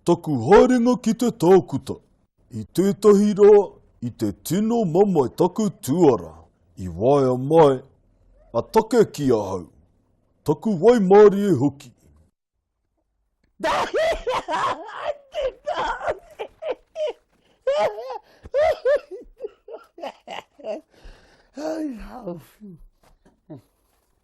Taku haerenga ki te tākuta, i tētahi rā, i te tino mamae taku tuara. I waea mai a take ki ahau, taku waimarie hoki.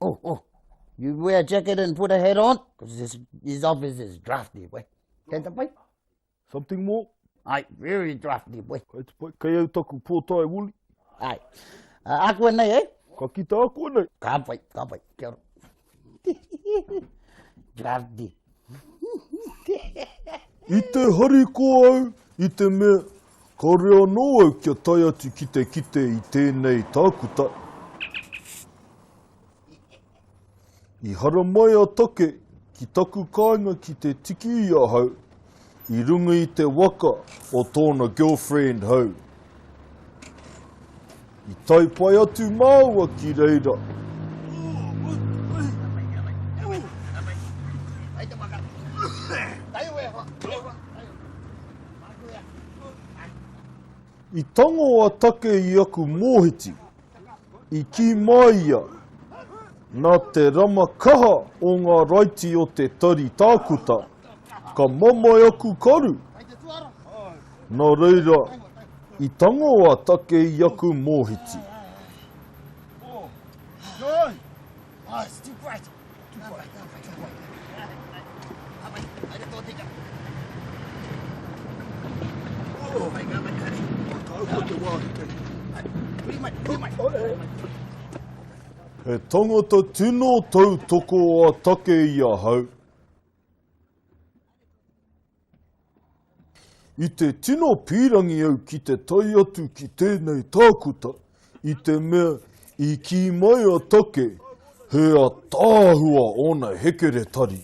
Oh, oh, you wear a jacket and put a hat on, because this, this office is drafty, boy. Kei te pai? Something more? Ai, very drafty, boy. Kei te pai, kei au taku pōtai wuli. Ai, uh, aku anei, eh? Ka kita aku anei. Ka pai, ka pai, kia ora. drafty. I te hariko au i te mea kāore anō au kia tae atu ki te kite i tēnei tākuta. I haramai a Take ki taku kāinga ki te tiki i ahau I runga i te waka o tōna girlfriend hou. I tae pai atu māua ki reira. I tango a Take i aku mōhiti. i kī mai ia, nā te rama kaha o ngā raiti o te Tari Tākuta, ka mamae aku karu, nā reira i tango a Take i aku mōhiti. He tangata tino tautoko a Take i ahau. I te tino pīrangi au ki te tae atu ki tēnei tākuta i te mea i kī mai a Take he ataahua ōna hekeretari.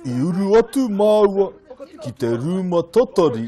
I uru atu māua ki te rūma tatari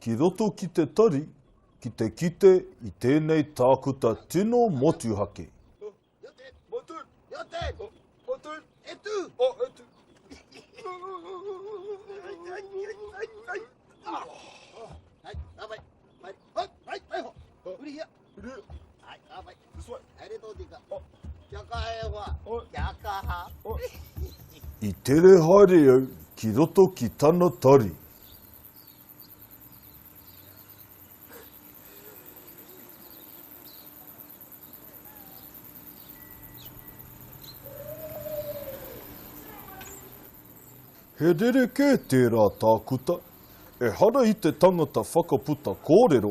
Ki roto ki te tari, ki te kite i tēnei tākuta tino motuhake. Hurihia! Uru. Hai, ka whai. This way. Hai re tōtika. Oh. Kia kaha e hoa. Oh. Kia kaha. Oh. I tere haere au ki roto ki tana tari. He rerekē tērā tākuta, ehara i te tangata whakaputa kōrero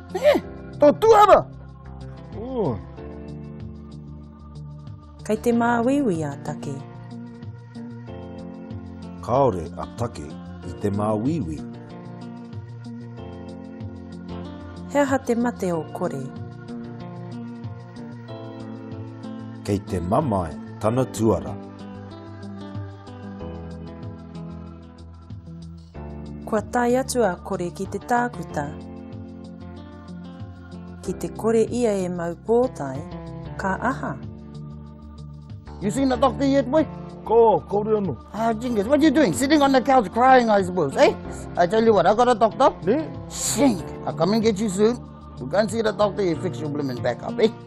He! Tō tuhara! Ooh! Kei te māuiui a Take. Kāore a Take i te māuiui. He aha te mate o Kore? Kei te mamae tana tuara. Kua tae atu a Kore ki te tākuta. Ki te kore ia e mau pōtae, ka aha? You seen the doctor yet, boy? Ko, kaore ano. Ah, Jingis, what are you doing? Sitting on the couch crying, I suppose, eh? I tell you what, I got a doctor. Ne? Shink! I'll come and get you soon. We'll go and see the doctor, he'll fix your blooming back up, eh?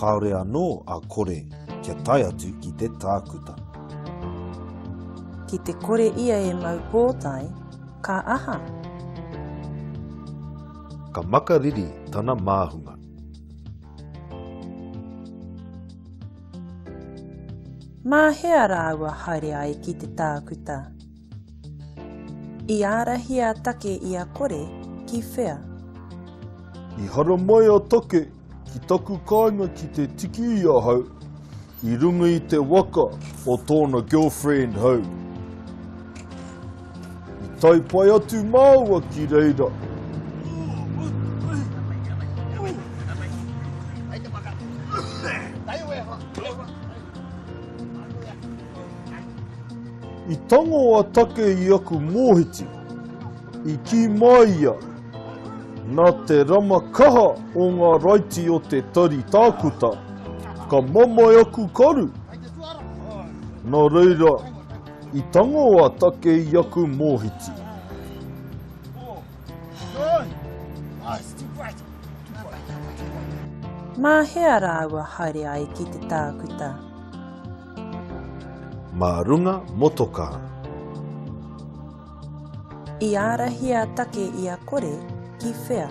Kāore anō a Kore kia tae atu ki te tākuta. Ki te kore ia e mau pōtae, ka aha? Ka makariri tana māhunga. Mā hea rāua haere ai ki te tākuta? I ārahi a Take i a Kore ki whea? I hara mai a Take ki taku kāinga ki te tiki i ahau i runga i te waka o tōna girlfriend hou. I tae pai atu māua ki reira. I tango a Take i aku mōhiti, i kī mai ia, Nā te rama kaha o ngā raiti o te tari tākuta, ka mamae aku karu. Nā reira, i tango a Take i aku mōhiti. Mā hea rāua haere ai ki te tākuta? Mā runga motokā. I ārahi a Take i a Kore ki whea?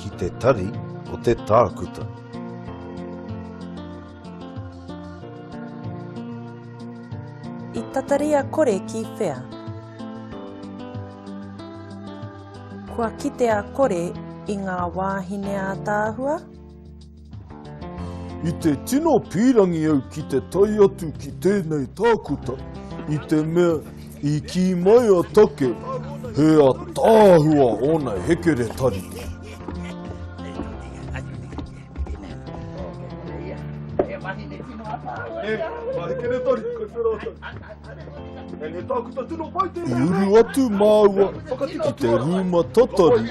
Ki te tari o te tākuta. I tatari a Kore ki whea? Kua kite a Kore i ngā wāhine ātaahua? I te tino pīrangi au ki te tae atu ki tēnei tākuta i te mea i kī mai a Take he ataahua ōna hekeretari. I uru atu māua ki te rūma tatari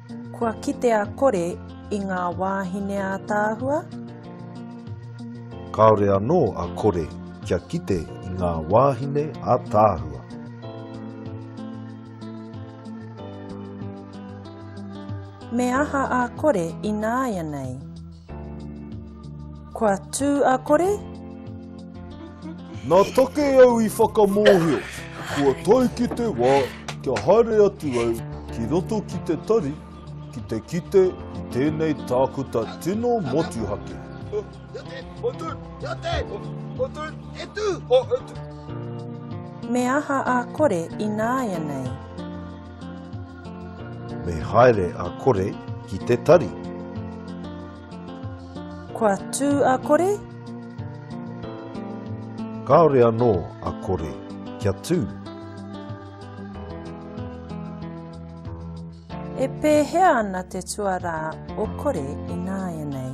Kua kitea kore i ngā wāhine ātaahua? Kāore anō a kore kia kite i ngā wāhine ātaahua. Me aha a kore ināianei? Kua tū a kore? Nā take au i whakamōhio, kua tae ki te wā kia haere atu au ki roto ki te tari ki te kite i tēnei tākuta tino motuhake. Me aha a kore ināianei? Me haere a Kore ki te tari. Kua tū a Kore? Kāore anō a Kore kia tū. E pēhea ana te tuarā o Kore ināianei?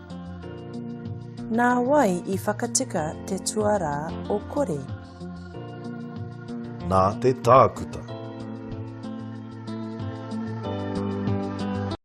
Nā wai i whakatika te tuarā o Kore? Nā te tākuta.